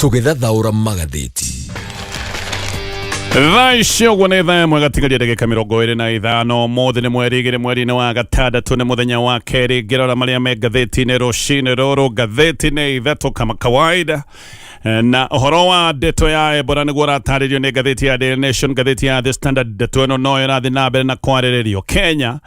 tũgĩthathaũra magathĩti thaa icio guo nĩ thaa ĩmwe gatigaria ndagĩka mĩrongo ĩrĩ na ithano ũmũthĩ nĩ mweri igĩrĩ mweri-inĩ wa gatandatũ nĩ mũthenya wa kerĩ ngĩrora marĩa me ngathĩti-inĩ rũcinĩ rũrũ ngathĩti-inĩ ithatũ kama kawaida Eh, na ũhoro wa ndeto ya ebora nĩguo ũratarĩrio nĩ ngathĩti ya Daily Nation ngathĩti ya The Standard ndeto ĩno no ĩrathiĩ na mbere na kwarĩrĩrio Kenya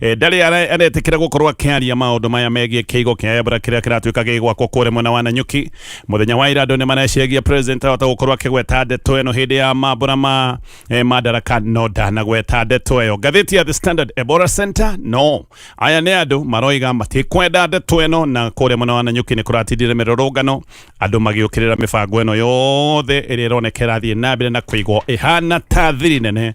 Eh, ndarĩ ara- aretĩkĩra gũkorwo akĩaria maũndũ maya megiĩ kĩigo kĩa ebra kĩrĩa kĩratuĩka gĩgwakwo kũrĩa mwena wa nanyuki mũthenya wa ira andũ nĩ mareciragia president ahota gũkorwo akĩgweta ndeto ĩno hĩndĩ ya mambura ma eh, madaraka no ndanagweta ndeto ĩyo ngathĩti ya the standard ebora center no aya nĩ andũ maroiga matikwenda ndeto ĩno na kũrĩa mwena wa nanyuki nĩ kũratindire mĩrũrũngano andũ magĩũkĩrĩra mĩbango ĩno yothe ĩrĩa ĩroneka ĩrathiĩ na mbere na kũigwo ĩhana ta thiri nene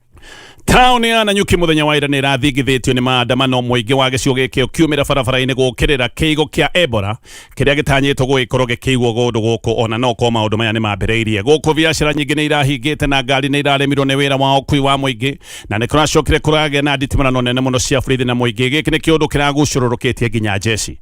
taũni ya nanyuki mũthenya wa ira nä ĩrathingithĩtio nĩ maandamano mũingĩ wa gĩcigo gĩkĩ ũkiumĩra barabara-inĩ gũkĩrĩra kĩigo kĩa ebora kĩrĩa gĩtanyĩtwo gũgĩkorwo gĩkĩiguo gũndũ gũkũ ona no korwo maũndũ maya nĩ mambĩrĩirie gũkũ biacara nyingĩ nĩ irahingĩte na ngari nĩ iraremirwo nĩ wĩra wa ũkui wa mũingĩ na nĩ kũracokire kũragĩa na nditimũrano nene mũno cia borithi na mũingĩ gĩkĩ nĩ kĩũndũ kĩragucũrũrũkĩtie nginya njeci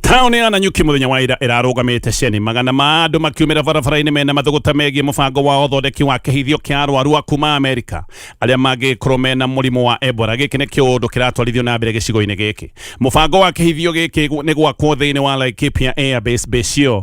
taũni ya nanyuki mũthenya wa ira ĩrarũgamĩte ceni magana ma andũ makiumĩra barabara-inĩ mena mathũgũta megiĩ mũbango wa ũthondeki wa kĩhithio kĩa arwaru a kuma amerika arĩa mangĩkorwo mena mũrimũ wa ebola gĩkĩ nĩ kĩũndũ kĩratwarithio na mbere gĩcigo-inĩ gĩkĩ mũbango wa kĩhithio gĩkĩ nĩ gwakwo thĩinĩ wa laikipia airbase base ĩyo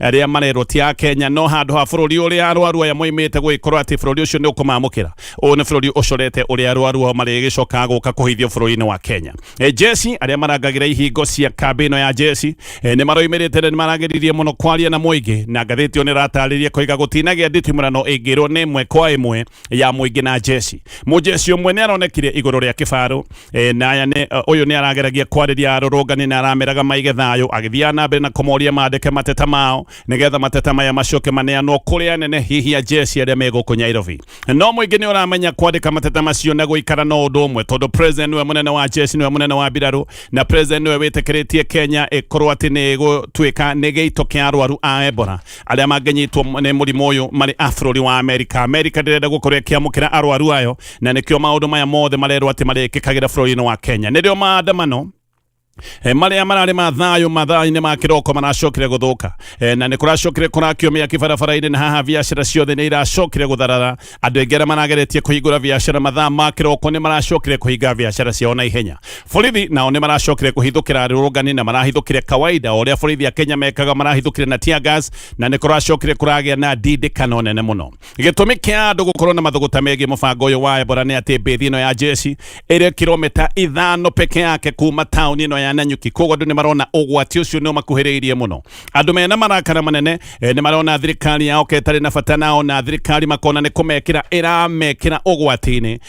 arĩa marerwo ti a kenya no handũ ha bũrũri ũrĩa arwaru aya moimĩte gũgĩkorwo atĩ bũrũri ũcio nĩ ũkũmamũkĩra ũyũ nĩ bũrũri ũcorete ũrĩa arwaru ao marĩgĩcokaga gũka kũhithio bũrũri-inĩ wa kenya e, jesi arĩa marangagĩra ihingo cia kambĩ ĩno ya jesi e, nĩ maroimĩrĩte na nĩ maragĩririe mũno kwaria na mũingĩ na ngathĩti ĩyo nĩ ĩratarĩria koiga gũtinagĩa nditimũrano ĩngĩrwo nĩ ĩmwe kwa ĩmwe ya mũingĩ na jesi mũjesi ũmwe nĩ aronekire igũrũ rĩa kĩbarũ e, na aya nĩ ũ yũ nĩ arageragia kwarĩria arũrũngani na arameraga maige thayũ agĩthiaga na mbere na kũmoria mandĩke mateta mao nĩgetha mateta maya macoke maneanwo kũrĩ anene hihi ajesi arĩa me gũkũ nyairobi no mũingĩ nĩ ũramenya kwandĩka mateta macio na gũikara no ũndũ ũmwe tondũ president nĩwe mũnene wa jesi nĩwe mũnene wa mbirarũ na president nĩwe wĩtĩkĩrĩtie kenya ĩkorwo atĩ nĩ gũtuĩka nĩ gĩito kĩa arwaru a ebora arĩa mangĩnyitwo nĩ mũrimũ ũyũ marĩ a bũrũri wa amerika amerika ndĩrenda gũkorwo ĩkĩamũkĩra arwaru ayo na nĩkĩo maũndũ maya mothe marerwo atĩ marĩkĩkagĩra bũrũri-inĩ wa kenya nĩrĩo maandamano E, marĩa mararĩ ma thayũ mathaa-inĩ ma kĩroko maracokire gũthũka e, na nĩ kũracokire kũrakio mĩaki barabara-inĩ na haha biacara ciothe nĩ iracokire gũtharara andũ aingĩ arĩa marageretie kũhingũra biacara mathaa ma kĩroko nĩ maracokire kũhinga biacara ciao na ihenya borithi nao nĩ maracokire kũhithũkĩra arũrũngani na marahithũkire kawaida o ũrĩa borithi a kenya mekaga marahithũkire na tear gas na nĩ kũracokire kũragĩa na ndindĩkano nene mũno gĩtũmi kĩa andũ gũkorwo na mathũgũta megiĩ mũbango ũyũ wa ebora nĩ atĩ mbĩthi ĩno ya jeshi ĩrĩ kilomita ithano peke yake kuma taũni ĩno ya nanyuki koguo andũ nĩ marona ũgwati ũcio nĩ ũmakuhĩrĩirie mũno andũ mena marakara manene eh, nĩ marona thirikari yao ketarĩ na bata nao na thirikari makona nĩ kũmekĩra ĩramekĩra ũgwati-inĩ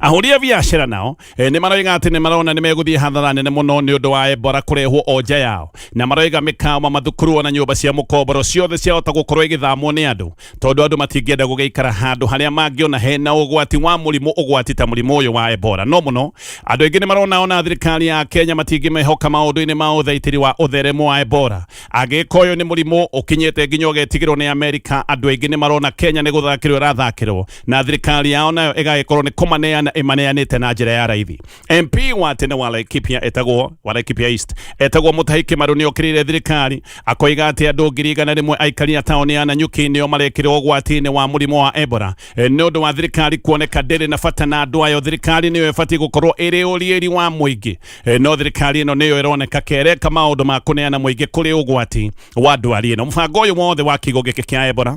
ahũri a biacara nao eh, nĩ maroiga atĩ nĩ marona nĩ megũthiĩ hathara nene mũno nĩ ũndũ wa embora kũrehwo o nja yao na maroiga mĩkawa mathukuru ona nyũmba cia mũkomboro ciothe ciahota gũkorwo igĩthamwo nĩ andũ tondũ andũ matingĩenda gũgĩikara handũ harĩa mangĩona hena ũgwati wa mũrimũ ũgwati ta mũrimũ ũyũ wa embora no mũno andũ aingĩ nĩ marona ona thirikari ya kenya matingĩmehoka maũndũ-inĩ ma ũthaitĩri wa ũtheremu wa embora angĩka ũyũ nĩ mũrimũ ũkinyĩte nginya ũgetigĩrwo nĩ amerika andũ aingĩ nĩ marona kenya nĩ gũthakĩrwo ĩrathakĩrwo na thirikari yao nayo ĩgagĩkorwo nĩ kũmaneana ĩmaneanĩte na njĩra ya raithi mp wa tene wa laikipia etagwo wa laikipia east etagwo mũtahi kĩmarũ nĩ okĩrĩire thirikari akoiga atĩ andũ ngiri igana rĩmwe aikari a taũni ya nanyuki nĩo marekĩrwo ũgwati-inĩ wa mũrimũ wa ebora Eh, nĩ ũndũ wa thirikari kuoneka ndĩrĩ na bata na andũ ayo thirikari nĩyo ĩbatiĩ gũkorwo ĩrĩ ũriĩri wa mũingĩ Eh, no thirikari ĩno nĩyo ĩroneka kereka maũndũ ma kũneana mũingĩ kũrĩ ũgwati wa ndwari ĩno mũbango ũyũ wothe wa kiugo gĩkĩ kĩa ebora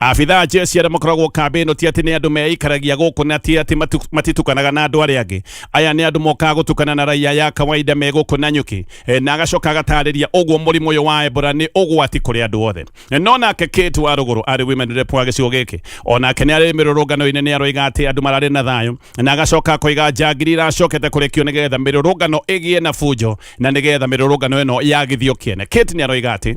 Abitha a jeshi arĩa makoragwo kambĩ ĩno ti atĩ nĩ andũ meikaragia gũkũ na ti atĩ matu- matitukanaga na andũ arĩa angĩ. Aya nĩ andũ mokaga gũtukana na raia ya kawaida me gũkũ na nyuki. E, na agacoka agatarĩria ũguo mũrimũ ũyũ wa Ebola nĩ ũgwati kũrĩ andũ othe. E, No nake Kate wa rũgũrũ arĩ women rep wa gĩcigo gĩkĩ. O nake nĩ arĩ mĩrũrũngano-inĩ nĩ aroiga atĩ andũ mararĩ na thayũ na agacoka akoiga njangiri iracokete kũrekio nĩgetha mĩrũrũngano ĩgĩe na bunjo na nĩgetha mĩrũrũngano ĩno yagithio kĩene. Kate nĩ aroiga atĩ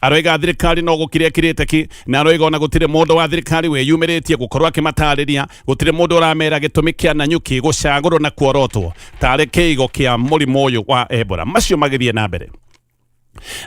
aroiga thirikari no gukire kirite ki na aroiga ona gutire mundu wa thirikari wiyumiritie gukorwo akimatariria gutire mundu uramera gitumi kia Nanyuki gucagurwo na kuorotwo tari kiigo kia murimu uyu wa Ebola macio magithie na mbere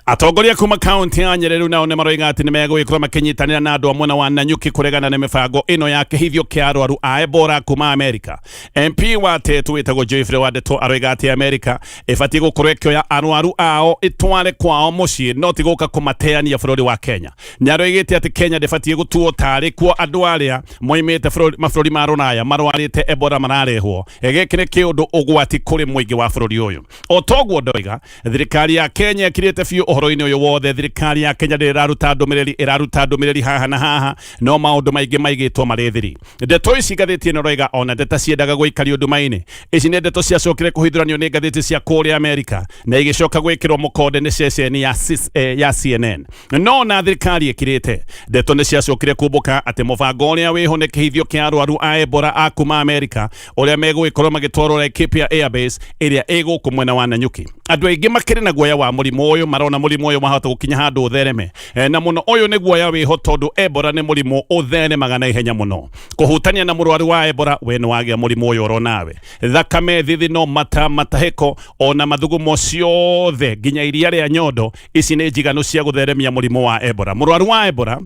atongoria kuma kaunti ya Nyeri rĩu nao nĩ maroiga atĩ nĩ megũgĩkorwo makĩnyitanĩra na andũ a mwena wa Nanyuki kũregana na mĩbango ĩno ya kĩhithio kĩa arwaru a Ebola kuma Amerika. MP wa Tetu wĩtagwo Geoffrey Wandeto aroiga atĩ Amerika ĩbatiĩ gũkorwo ĩkĩoya arwaru ao ĩtware kwao mũciĩ no ti gũka kũmateania bũrũri wa kenya nyarũ ĩgĩte atĩ kenya ndĩbatiĩ gũtuo tarĩ kuo andũ arĩa moimĩte bũrũri- mabũrũri ma rũraya marwarĩte ebora mararehwo Eh, gĩkĩ nĩ kĩũndũ ũgwati kũrĩ mũingĩ wa bũrũri ũyũ o toguo ndoiga thirikari ya kenya ĩkirĩte biũ ũhoro-inĩ ũyũ wothe thirikari ya kenya ndĩraruta ndũmĩrĩri ĩraruta ndũmĩrĩri haha na haha no maũndũ maingĩ maigĩtwo marĩ thiri ndeto ici ngathĩti ĩno roiga ona ndeta ciendaga gũikario nduma-inĩ ici nĩ ndeto ciacokire kũhithũranio nĩ ngathĩti cia kũrĩa amerika na igĩcoka gwĩkĩrwo mũkonde nĩ ceceni ya, cis- eh, ya cnn no na thirikari ĩkirĩte ndeto nĩ ciacokire kumbũka atĩ mũbango ũrĩa wĩho nĩ kĩhithio kĩa arwaru a ebora a kuma amerika ũrĩa megũgĩkorwo magĩtwarwo laikipia airbase ĩrĩa ĩ gũkũ mwena wa nanyuki andũ aingĩ makĩrĩ na guoya wa mũrimũ ũyũ marona mũrimũ ũyũ wahota gũkinya handũ ũthereme Eh, na muno uyu ni guoya wiho tondu ebora ni murimu uthenemaga na ihenya muno kuhutania na murwaru wa ebora we ni wagia murimu uyu oro nawe thakame thithino mata matahiko ona mathugumo ciothe nginya iria ria nyondo ici ni njiganu cia gutheremia murimu wa ebora murwaru wa ebora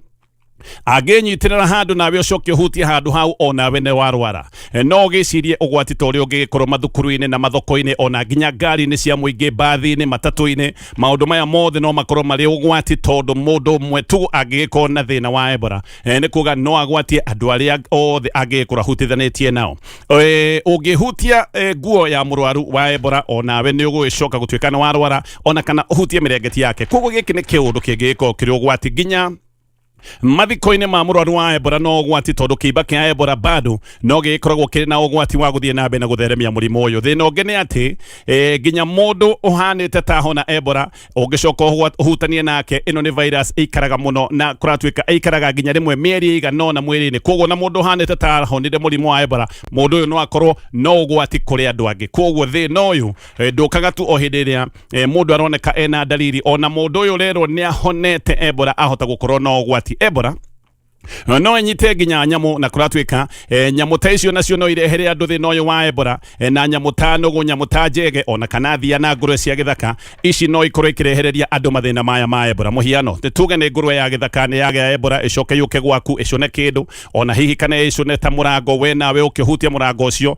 angĩnyitirĩra handũ nawe ũcoke ũhutie handũ hau onawe nĩ warwara E, no ũgĩcirie ũgwati ta ũrĩa ũngĩgĩkorwo mathukuru-inĩ na mathoko-inĩ ona nginya ngari-inĩ cia mũingĩ mbathi-inĩ matatũ-inĩ maundu maya mothe no makorwo marĩ ũgwati tondũ mũndũ ũmwe tu angĩgĩkorwo na thĩna wa ebora eh, nĩ kuga no agwatie andũ arĩa othe angĩgĩkorwo ahutithanĩtie nao Eh, ũngĩhutia eh, nguo ya mũrwaru wa ebora onawe nĩ ũgũgĩcoka gũtuĩka nĩ warwara ona kana ũhutie mĩrengeti yake koguo gĩkĩ nĩ kĩũndũ kĩngĩgĩkorwo kĩrĩ ũgwati nginya mathiko-inĩ ma mũrwaru wa ebora no ũgwati tondũ kĩimba kĩa ebora bado no gĩgĩkoragwo kĩrĩ na ũgwati wa gũthiĩ na mbere na gũtheremia mũrimũ ũyũ thĩna ũngĩ nĩ atĩ e, nginya mũndũ ũhanĩte ta hona ebora ũngĩcoka ũhwa- ũhutanie nake ĩno nĩ virus ĩikaraga mũno na kũratuĩka ĩikaraga nginya rĩmwe mĩeri ĩigana ũna mwĩrĩ-inĩ koguo na mũndũ ũhanĩte ta honire mũrimũ wa ebora mũndũ ũyũ no akorwo no ũgwati kũrĩ andũ angĩ koguo thĩna ũyũ e, ndũkaga tu o hĩndĩ ĩrĩa e, mundu aroneka ena ndariri ona mundu uyu rero ni ahonete ebora ahota gukorwo na ugwati ebora no nyite nginya nyamu na kuratuika e, nyamu ta icio nacio no irehere andu thina uyu wa ebora e, na nyamu ta nugu nyamu ta njege ona kana thia na ngurwe cia githaka ici no ikorwo ikirehereria andu mathina maya ma ebora muhiano ni tuge ni ngurwe ya githaka ni yagea ebora icoke yuke gwaku icune kindu ona hihi kana icune ta murango we nawe ukihutia murango ucio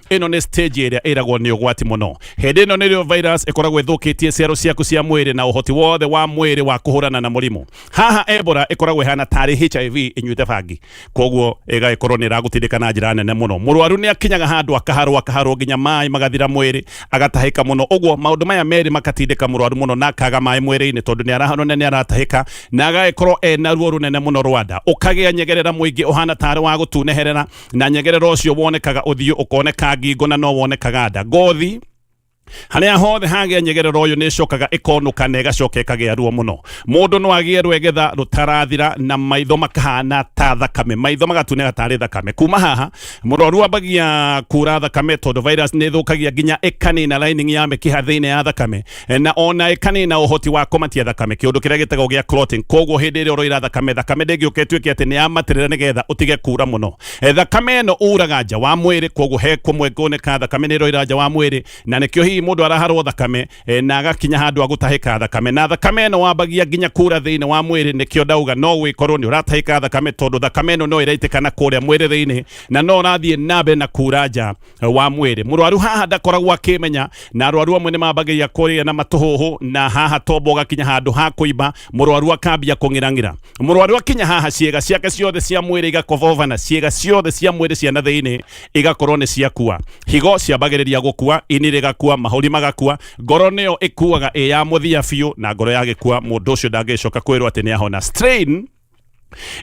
ĩno nĩ stage ĩrĩa ĩragwo nĩ ũgwati mũno hĩndĩ ĩno nĩrĩo virus ĩkoragwo ĩthũkĩtie ciaro ciaku cia mwĩrĩ na ũhoti wothe wa mwĩrĩ wa kũhũrana na mũrimũ haha ebora ĩkoragwo ĩhana tarĩ hiv ĩnyuĩte bangi koguo ĩgagĩkorwo nĩ ĩragũtindĩka na njĩra nene mũno mũrwaru nĩ akinyaga handũ akaharwo akaharwo nginya maĩ magathira mwĩrĩ agatahĩka mũno ũguo maũndũ maya merĩ makatindĩka mũrwaru mũno na akaga maĩ mwĩrĩ-inĩ tondũ nĩ arahanwo na nĩ aratahĩka na agagĩkorwo ena ruo rũnene mũno rwanda ũkagĩa nyegerera mũingĩ ũhana tarĩ wa gũtuneherera na nyegerera ũcio wonekaga ũthiũ ũkoneka ngingo na no wonekaga nda ngothi harĩa hothe hagĩa nyegerera ũyũ nĩ ĩcokaga ĩkonũka na ĩgacoka ĩkagĩa ruo mũno mũndũ no agĩe rwegetha rũtarathira na maitho makahana ta thakame maitho magatunĩka tarĩ thakame kuma haha mũrwaru ambagia kura thakame tondũ virus nĩ ĩthũkagia nginya ĩkanina lining ya mĩkiha thĩinĩ ya thakame Eh, na ona ĩkanĩ na ũhoti wa kũmatia thakame kĩũndũ kĩrĩa gĩtagwo gĩa clotting koguo hĩndĩ ĩrĩa ũroira thakame thakame ndĩngĩũka ĩtuĩke atĩ nĩ yamatĩrĩra nĩgetha ũtige kura mũno Eh, thakame ĩno uraga nja wa mwĩrĩ koguo he kũmwe ngũnĩka thakame nĩ ĩroira nja wa mwĩrĩ na nĩkĩo hihi mũndũ araharwo thakame eh, na agakinya handũ agũtahĩka thakame na thakame ĩno wambagia nginya kura thĩinĩ wa mwĩrĩ nĩkĩo ndauga no gwĩkorwo nĩ ũratahĩka thakame tondũ thakame ĩno no ĩraitĩkana kũrĩa mwĩrĩ thĩinĩ na no ũrathiĩ na mbere na kura nja wa mwĩrĩ mũrwaru haha ndakoragwo akĩmenya na arwaru amwe nĩ mambagĩria kũrĩa na matũhũhũ na haha tombo gakinya handũ ha kũimba mũrwaru akambia kũng'irang'ira mũrwaru akinya haha ciĩga ciake ciothe cia mwĩrĩ igakobovana ciĩga ciothe cia mwĩrĩ cia na thĩinĩ igakorwo nĩ ciakua higo ciambagĩrĩria gũkua ini rĩgakua mahũri magakua ngoro nĩyo ĩkuaga ĩ ya mũthia biũ na ngoro yagĩkua mũndũ ũcio ndangĩcoka kwĩrwo atĩ nĩ ahona strain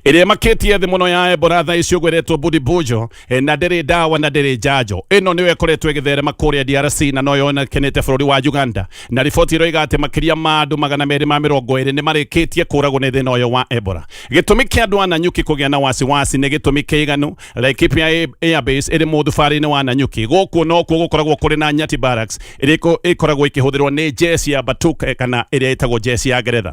ĩrĩa makĩtie thĩ mũno ya ebola thaa ici ũgweretwo budibujo eh, na ndĩrĩ ndawa na ndĩrĩ njanjo ĩno nĩyo ĩkoretwo ĩgĩtherema kũrĩa drc na no yonekanĩte bũrũri wa uganda na riboti ĩroiga atĩ makĩria ma andũ magana merĩ ma mĩrongo ĩrĩ nĩ marĩkĩtie kũragwo nĩ thĩna ũyũ wa ebola gĩtũmi kĩa andũ a nanyuki kũgĩa na wasiwasi nĩ gĩtũmi kĩiganu laikipia airbase ĩrĩ mũthubarĩ-inĩ wa nanyuki gũkũ nokuo gũkoragwo kũrĩ na nyati barracks ĩrĩa ĩko- ĩkoragwo ĩkĩhũthĩrwo nĩ jesi ya batuk eh, kana ĩrĩa ĩtagwo jesi ya ngeretha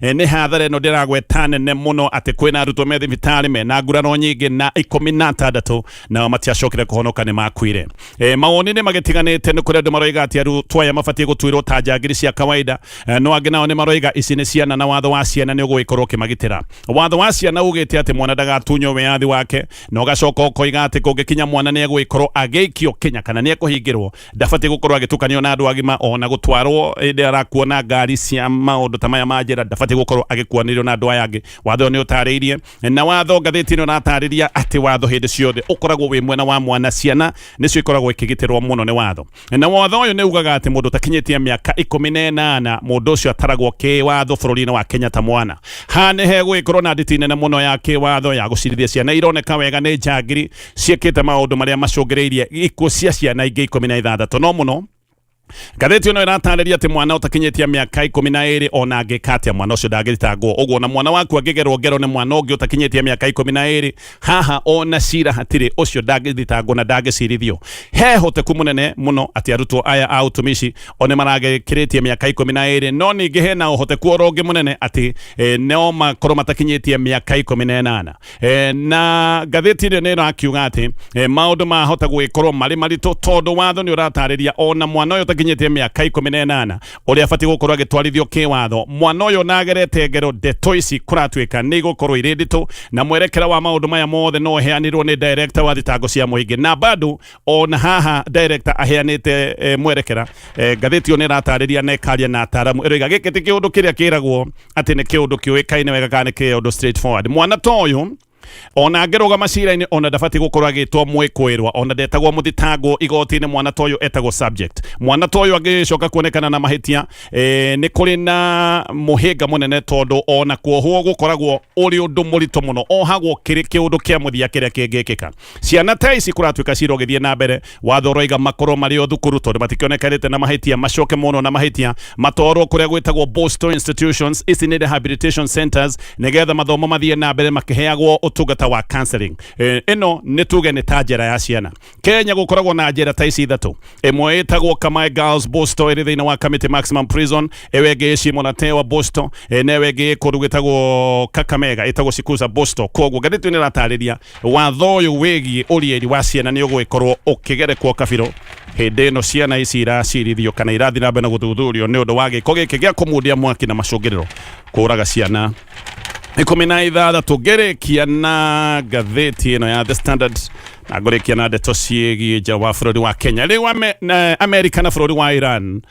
E, nĩ hathara ĩno ndĩragweta nene mũno atĩ kwĩna arutwo me thibitarĩ mena nguraro nyingĩ na ikũmi na atandatũ nao matiacokire kũhonoka nĩ makuire e, mawoni nĩ magĩtiganĩte nĩ kũrĩ andũ maroiga atĩ arutwo aya mabatiĩ gũtuĩrwo ta njangiri cia kawaida e, no angĩ nao nĩ maroiga ici nĩ ciana na watho wa ciana nĩ ũgũgĩkorwo ũkĩmagitĩra watho wa ciana ugĩte atĩ mwana ndagatunywo wĩyathi wake na ũgacoka ũkoiga atĩ kũngĩkinya mwana nĩ egũgĩkorwo agĩikio kinya kana nĩ ekũhingĩrwo ndabatiĩ gũkorwo agĩtukanio na andũ agima ona gũtwarwo ĩndĩ arakuona ngari cia maũndũ ta maya ma njĩra ndabatiĩ gũkorwo agĩkuanĩrio na andũ aya angĩ watho nĩ ũtarĩirie na watho ngathĩti ĩno ĩratarĩria atĩ watho hĩndĩ ciothe ũkoragwo wĩ mwena wa mwana ciana nĩcio ikoragwo ikĩgitĩrwo mũno nĩ watho na watho ũyũ nĩ ugaga atĩ mũndũ ũtakinyĩtie mĩaka ikũmi na ĩnana mũndũ ũcio ataragwo kĩwatho bũrũri-inĩ wa Kenya ta mwana haha nĩ hegũgĩkorwo na nditi nene mũno ya kĩwatho ya gũcirithia ciana ironeka wega nĩ njangiri ciĩkĩte maũndũ marĩa macũngĩrĩirie ikuũ cia ciana ingĩ ikũmi na ithathatũ no mũno ngathĩti ĩno ĩratarĩria atĩ mwana ũtakinyĩtie mĩaka ikũmi na ĩrĩ ona angĩka atĩa mwana ũcio ndangĩthitangwo ũguo na mwana waku angĩgerwo ngero nĩ mwana ũngĩ ũtakinyĩtie mĩaka ikũmi na ĩrĩ haha ona cira hatirĩ ũcio ndangĩthitangwo na ndangĩcirithio he hoteku mũnene mũno atĩ arutwo aya a utumishi one maragĩkĩrĩtie mĩaka ikũmi na ĩrĩ no ningĩ hena ũhoteku oro ũngĩ mũnene atĩ eh, no makorwo matakinyĩtie mĩaka ikũmi na ĩnana Eh, na ngathĩti ĩrĩa nĩ ĩrakiuga atĩ eh, maũndũ mahota gũgĩkorwo marĩ maritũ tondũ watho nĩ ũratarĩria ona mwana ũyũ ũtakinyĩtie mĩaka ikũmi na ĩnana ũrĩa abatiĩ gũkorwo agĩtwarithio kĩwatho mwana ũyũ na agerete ngero ndeto ici kũratuĩka nĩ igũkorwo irĩ nditũ na mwerekera wa maũndũ maya mothe no ũheanirwo nĩ director wa thitango cia mũingĩ na bado ona haha director aheanite eh, mwerekera eh, ngathĩti ĩyo nĩ ĩratarĩria na ĩkaria na ataaramu ĩroiga gĩkĩ ti kĩũndũ kĩrĩa kĩragwo atĩ nĩ kĩũndũ kĩũĩkaine wega kana nĩ kĩũndũ straight forward mwana ta ũyũ ona angĩrũga macira-inĩ ona ndabatiĩ gũkorwo agĩtwo mwĩkwĩrwa ona ndetagwo mũthitangwo igoti-inĩ mwana ta ũyũ etagwo subject mwana ta ũyũ angĩcoka kuonekana na mahĩtia eh, nĩ kũrĩ na mũhĩnga mũnene tondũ ona kuohwo gũkoragwo ũrĩ ũndũ mũritũ mũno ohagwo kĩrĩ kĩũndũ kĩa mũthia kĩrĩa kĩngĩkĩka ciana ta ici kũratuĩka cira ũgĩthiĩ na mbere watho ũroiga makorwo marĩ o thukuru tondũ matikĩonekanĩte na mahĩtia macoke mono na mahĩtia matwarwo kũrĩa gwĩtagwo Boston institutions ici nĩ rehabilitation centers nĩgetha mathomo mathiĩ na mbere makĩheagwo ũtungata wa counseling Eh, ĩno nĩ tuge nĩ ta njera ya ciana Kenya gũkoragwo na njera ta ici ithatũ ĩmwe ĩtagwo Kamae Girls Boston ĩrĩ thĩinĩ wa Kamiti Maximum Prison ĩyo ĩngĩ ĩci Monatewa Boston eh, na ĩyo ĩngĩ ĩkũndũ gwĩtagwo Kakamega ĩtagwo Sikuza Boston koguo ngathĩti nĩ ĩratarĩria watho ũyũ wĩgiĩ ũrieri wa ciana nĩ ũgũgĩkorwo ũkĩgerekwo kabirũ hĩndĩ ĩno ciana ici iracirithio kana irathiĩ na mbere na gũthuthurio nĩ ũndũ wa gĩko gĩkĩ gĩa kũmundia mwaki na macũngĩrĩro kũraga ciana ikũmi na ithathatũ ngĩrĩkia na ngathĩti ĩno ya the standard na ngũrĩkia na ndeto ciĩgiĩ nja wa bũrũri wa kenya rĩu ame, na, amerika na bũrũri wa iran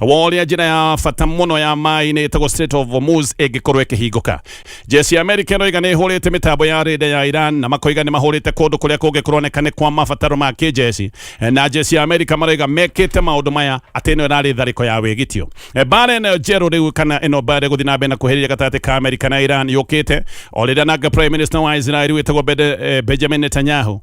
woria njĩra ya bata mũno ya maĩ-inĩ ĩtagwo Strait of Hormuz ĩngĩkorwo ĩkĩhingũka jeshi ya Amerika ĩroiga nĩ ĩhũrĩte mĩtambo ya rĩnda ya Iran na makoiga nĩ mahũrĩte kũndũ kũrĩa kũngĩ kũroneka nĩ kwa mabataro ma kĩjeshi na jeshi ya Amerika maroiga mekĩte maũndũ maya atĩ ĩno ĩrarĩ tharĩko ya wĩgitio mbara ĩno njerũ rĩu kana ĩno mbara gũthiĩ na mbere na kuhĩrĩria gatagatĩ ka Amerika na Iran yũkĩte o rĩrĩa nanga Prime Minister wa Israel wĩtagwo Bede- eh, Benjamin Netanyahu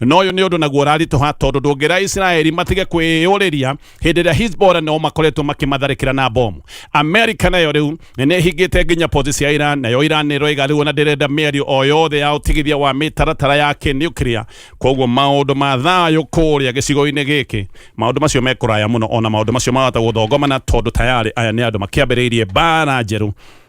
no ũyũ nĩ ũndũ naguo ũraritũha tondũ ndũngĩra isiraeli matige kwĩyũrĩria hĩndĩ ĩrĩa hisbora nao makoretwo makimatharĩkĩra na bomu amerika nayo rĩu nĩ ĩhingĩte nginya pozi cia iran nayo iran nĩ ĩroiga rĩu ona ndĩrenda mĩario o yothe ya ũtigithia wa mĩtaratara ya kĩnuclear koguo maũndũ ma thayũ kũrĩa gĩcigo-inĩ gĩkĩ maũndũ macio mekũraya mũno ona maũndũ macio marahota gũthongomana tondũ tayarĩ aya nĩ andũ makĩambĩrĩirie mbara njerũ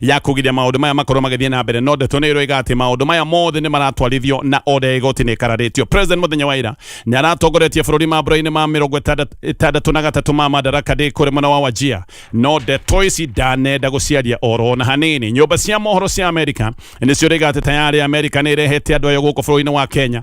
ya kũgiria maũndũ maya makorwo magĩthiĩ na mbere no ndeto nĩ ĩroiga atĩ maũndũ maya mothe nĩ maratwarithio na oda ya igoti nĩ ĩkararĩtio president mũthenya wa ira nĩ aratongoretie bũrũri mambura-inĩ ma mĩrongo ĩtandat- ĩtandatũ na gatatũ ma madaraka ndĩ kũrĩ mwena wa wajia no ndeto ici ndanenda gũciaria oro na hanini nyũmba cia mohoro cia amerika nĩcio rĩga atĩ tayarĩ amerika nĩ ĩrehete andũ ayo gũkũ bũrũri-inĩ wa kenya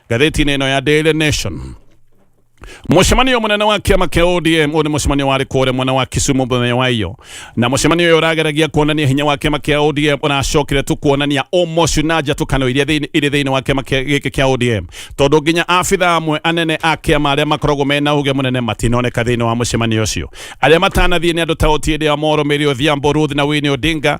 Gatheti-inĩ ĩno ya Daily Nation mucemanio munene wa kiama kia ODM uyu ni mucemanio wari kuria mwena wa Kisumu muthenya wa iyo na mucemanio uyu urageragia kuonania hinya wa kiama kia ODM unacokire tu kuonania umocu na njatukano iria thiini iri thiini wa kiama kia- giki kia ODM tondu nginya abitha amwe anene a kiama aria makoragwo mena uge munene matinoneka thiini wa mucemanio ucio aria matanathie ni andu ta Otiende Amolo Mary Odhiambo Ruth na Winnie Odinga